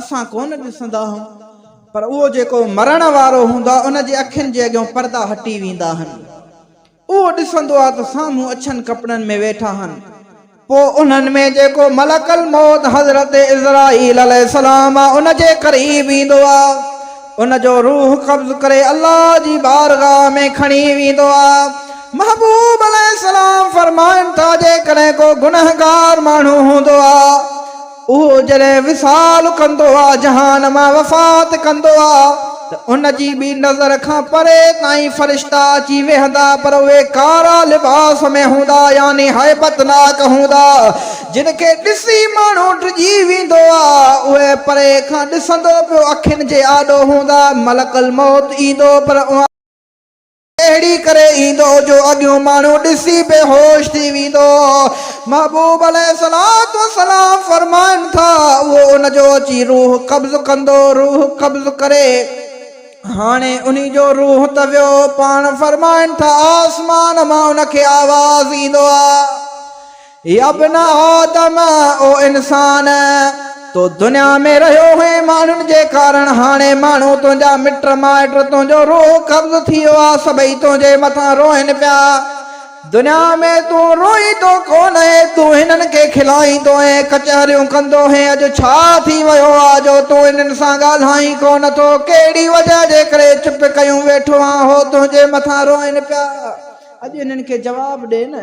اسان ڪونه ڏسندا هون پر اهو جيڪو مرڻ وارو هوندو آهي ان جي اکين جي اڳيون پردا هٽي ويندا آهن. اهو ڏسندو آهي ته سامهون اڇن ڪپڙن ۾ ويٺا آهن. پوء انهن ۾ جيڪو ملڪ الموت حضرت عزرائيل عليه السلام آهي ان جي قريب ايندو آهي ان جو روح قبض ڪري الله جي بارگاهه ۾ کڻي ويندو آهي. محبوب عليه السلام فرمائن ٿا جيڪڏهن ڪو گنهگار ماڻهو هوندو آهي. اهو جڏهن وصال ڪندو آ، جهان مان وفات ڪندو آ، ته ان جي به نظر کان پري تائين فرشتا اچي ويهندا، پر اهي ڪارا لباس ۾ هوندا، يعني هيبتناڪ هوندا، جن کي ڏسي ماڻهو ڊڄي ويندو آ، اهي پري کان ڏسندو پيو اکين جي آڏو هوندا، ملڪ الموت ايندو، پر اوهان. اهڙي ڪري ايندو جو اڳيون ماڻهو ڏسي بي هوش ٿي ويندو. محبوب عليه الصلوة والسلام فرمائن ٿا، اهو ان جو اچي روح قبض ڪندو، روح قبض ڪري. هاڻي انهي جو روح ته ويو، پاڻ فرمائن ٿا، آسمان مان ان کي آواز ايندو آ. يابن آدم، او انسان! تو دنيا ۾ رهيو هئين ماڻهن جي ڪارڻ، هاڻي ماڻهو، تنهنجا مٽ مائٽ، تنهنجو روح قبض ٿي ويو آهي، سڀئي تنهنجي مٿان روئين پيا. دنيا ۾ تون روئيندو ڪونهين، تون هنن کي کلائيندو هين، ڪچهريون ڪندو هين، اڄ ڇا ٿي ويو آهي جو تون هنن سان ڳالهائين ڪونه ٿو، ڪهڙي وجهه جي ڪري چپ ڪيون ويٺو آهين، هو تنهنجي مٿان روئين پيا. اڄ هنن کي جواب ڏي نه.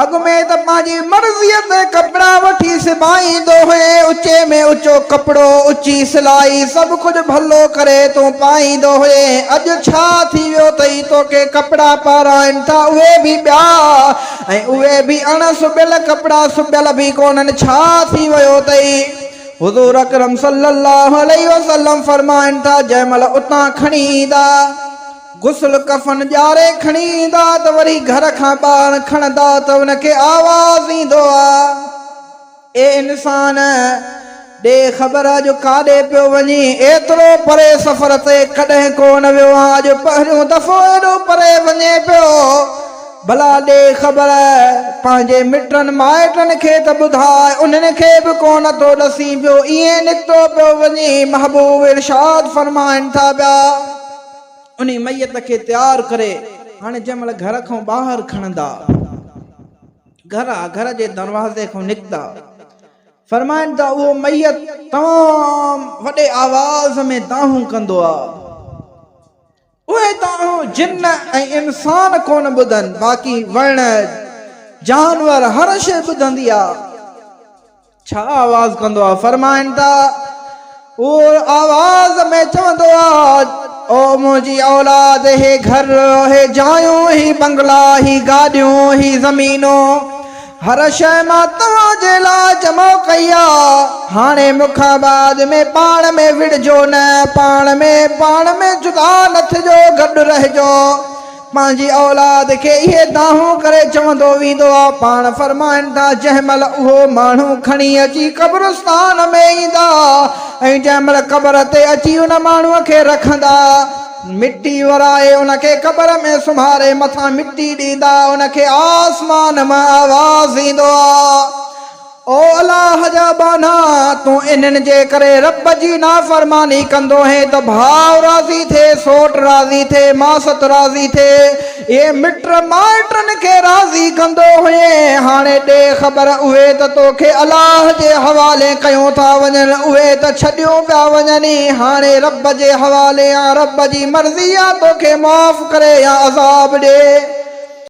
اڳ ۾ ته پنهنجي مرضيء تي ڪپڙا وٺي سبائيندو هئين، اچي ۾ اچو ڪپڙو، اچي سلائي، سڀ ڪجهه ڀلو ڪري تون پائيندو هئين، اڄ ڇا ٿي ويو تئي توکي ڪپڙا پارائن ٿا اهي به ٻيا ۽ اهي به اڻ سبيل ڪپڙا سبيل به ڪونهن ڇا ٿي ويو تئي؟ حضور اڪرم صلي الله عليه وسلم فرمائن ٿا جنهن مهل اتان کڻي ايندا. غسل ڪفن ڄاري کڻي ايندا ته وري گهر کان ٻاهر کڻندا ته ان کي آواز ايندو آ اي انسان! ڏي خبر اڄ ڪاڏي پيو وڃين؟ ايترو پري سفر تي ڪڏهن ڪو نه ويو آهيان اڄ پهريون دفعو ايڏو پري وڃين پيو ڀلا ڏي خبر پنهنجي مٽن مائٽن کي ته ٻڌاء انهن کي به ڪو نه ٿو ڏسين پيو ايئن نڪتو پيو وڃين محبوب ارشاد فرمائن ٿا پيا. انهي ميت کي تيار ڪري هاڻي جنهن مهل گهر کان ٻاهر کڻندا گهر آ گهر جي دروازي کان نڪتا فرمائن ٿا اهو ميت تمام وڏي آواز ۾ دانهون ڪندو آ اهي دانهون جن ۽ انسان ڪونه ٻڌن باقي وڻ جانور هر شي ٻڌندي آ ڇا آواز ڪندو آ؟ فرمائن ٿا، هو آواز ۾ چوندو آ، او منهنجي اولاد! هي گهر، هي جايون، هي بنگلا، هي گاڏيون، هي زمينون، هر شيء مان توهان جي لاء جمع ڪئي آ، هاڻي مون کان بعد ۾ پاڻ ۾ وڙهجو نه، پاڻ ۾ پاڻ ۾ جدا نه ٿجو، گڏ رهجو. پنهنجي اولاد کي اهي دانهون ڪري چوندو ويندو آ. پاڻ فرمائن ٿا، جنهن مهل اهو ماڻهو کڻي اچي قبرستان ۾ ايندا ۽ جنهن مهل قبر تي اچي ان ماڻهوء کي رکندا، مٽي ورائي ان کي قبر ۾ سمهاري مٿان مٽي ڏيندا، ان کي آسمان مان آواز ايندو آ. او الله جا ٻانها! تون انهن جي ڪري رب جي نافرماني ڪندو هين ته ڀاء راضي ٿئي، سوٽ راضي ٿئي، ماست راضي ٿئي، اهي مٽ مائٽن کي راضي ڪندو هئين، هاڻي ڏي خبر اهي ته توکي الله جي حوالي ڪيون ٿا وڃن، اهي ته ڇڏيون پيا وڃن ئي، هاڻي رب جي حوالي آن، رب جي مرضي آ توکي معاف ڪري يا عذاب ڏي.